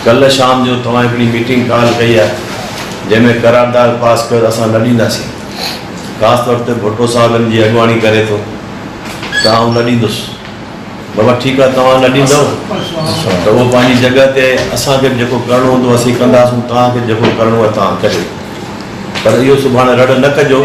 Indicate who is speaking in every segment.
Speaker 1: ڪلهه شام جو توهان هڪڙي ميٽنگ ڪال ڪئي آهي جنهن ۾ قرارداد پاس ڪيو ته اسان نه ڏينداسين خاص طور تي ڀٽو صاحب ان جي اڳواڻي ڪري ٿو ته آئون نه ڏيندس بابا ٺيڪ آهي توهان نه ڏيندؤ ته اهو پنهنجي جڳهه تي اسان کي به جيڪو ڪرڻو هوندو اسين ڪنداسون توهان کي جيڪو ڪرڻو آهي توهان ڪريو پر اهو سڀاڻي رڙ نه ڪجو.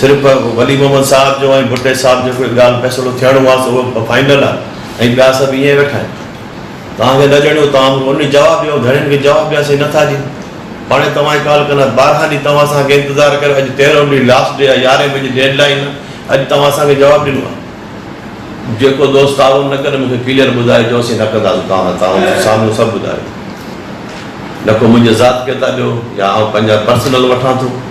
Speaker 1: صرف ولي محمد صاحب جو ۽ ڀٽي صاحب جو ڪوئي ڳالهه فيصلو ٿيڻو آ سو اهو فائنل آ ۽ ٻيا سڀ ايئن ويٺا آهن توهان کي نه ڄڻيو توهان مون کي انهي جواب ڏيو ڌڻين کي جواب ڏياسين نه ٿا ڏيون هاڻي توهان جي ڪال ڪندا ٻارهن ڏينهن توهان اسان کي انتظار ڪريو اڄ تيرهون ڏينهن لاسٽ ڊي آ يارهين بجي ڊيڊ لائين آ اڄ توهان اسان کي جواب ڏنو آ جيڪو دوست تعاون نه ڪري مون کي ڪليئر ٻڌائي جو اسين نه ڪنداسون توهان سان تعاون مون سامهون سڀ ٻڌايو نڪو منهنجي ذات کي ٿا ڏيو يا آئون پنهنجا پرسنل وٺان ٿو.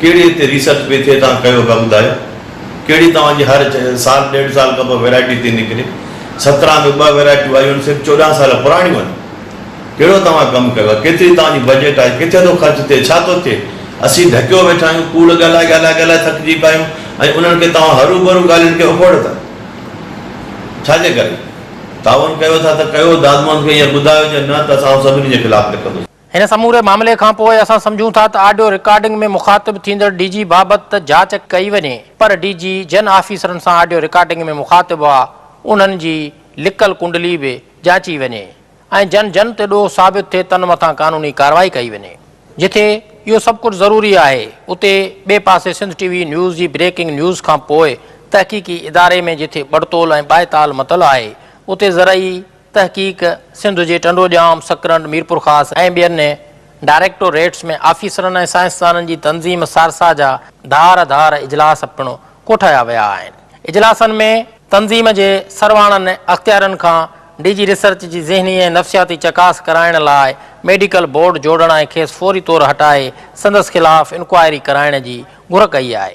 Speaker 1: ڪهڙي تي ريسرچ پئي ٿئي توهان ڪيو پيا ٻڌايو ڪهڙي توهان جي هر سال ڏيڍ سال کان پوء ويرائٽي ٿي نڪري سترهن ۾ ٻه ويرائٽيون آيون آهن صرف چوڏهن سال پراڻيون آهن ڪهڙو توهان ڪم ڪيو آهي ڪيتري توهان جي بجيٽ آهي ڪٿي ٿو خرچ ٿئي ڇا ٿو ٿئي اسين ڍڪيو ويٺا آهيون ڪوڙ ڳالهائي ڳالهائي ڳالهائي ٿڪجي پيا آهيون ۽ انهن کي توهان هروڀرو ڳالهين کي اکوڙ ٿا ڇا جي ڪري تعاون ڪيو ٿا ته ڪيو دادموند کي ائين ٻڌايو جي نه ته اسان سڀني جي خلاف لکندوسين. هن سموري معاملي
Speaker 2: کان پوء اسان سمجهون ٿا ته آڊيو رڪارڊنگ ۾ مخاطب ٿيندڙ ڊي جي بابت ته جاچ ڪئي وڃي پر ڊي جي جن آفيسرن سان آڊيو رڪارڊنگ ۾ مخاطب هئا انهن جي لڪل ڪنڊلي به جاچي وڃي ۽ جن جن تي ڏوهه ثابت ٿئي تن مٿان قانوني ڪارروائي ڪئي وڃي. جتي اهو سڀ ڪجهه ضروري آهي اتي ٻئي پاسي سنڌ ٽي وي نيوز جي بريڪنگ نيوز کان پوء تحقيقي اداري ۾ جتي ٻڙتول ۽ ٻائتال متل آهي اتي زرعي تحقيق سنڌ جي ٽنڊوڄام، سڪرنڊ، ميرپورخاص ۽ ٻين ڊائريڪٽو ريٽس ۾ آفيسرن ۽ سائنسدانن جي تنظيم سارسا جا ڌار ڌار اجلاس پڻ ڪوٺايا ويا آهن. اجلاسن ۾ تنظيم جي سرواڻن اختيارين کان ڊي جي ريسرچ جي ذهني ۽ نفسياتي چڪاس ڪرائڻ لاء ميڊيڪل بورڊ جوڙڻ ۽ کيس فوري طور هٽائي سندس خلاف انڪوائري ڪرائڻ جي گهر ڪئي آهي.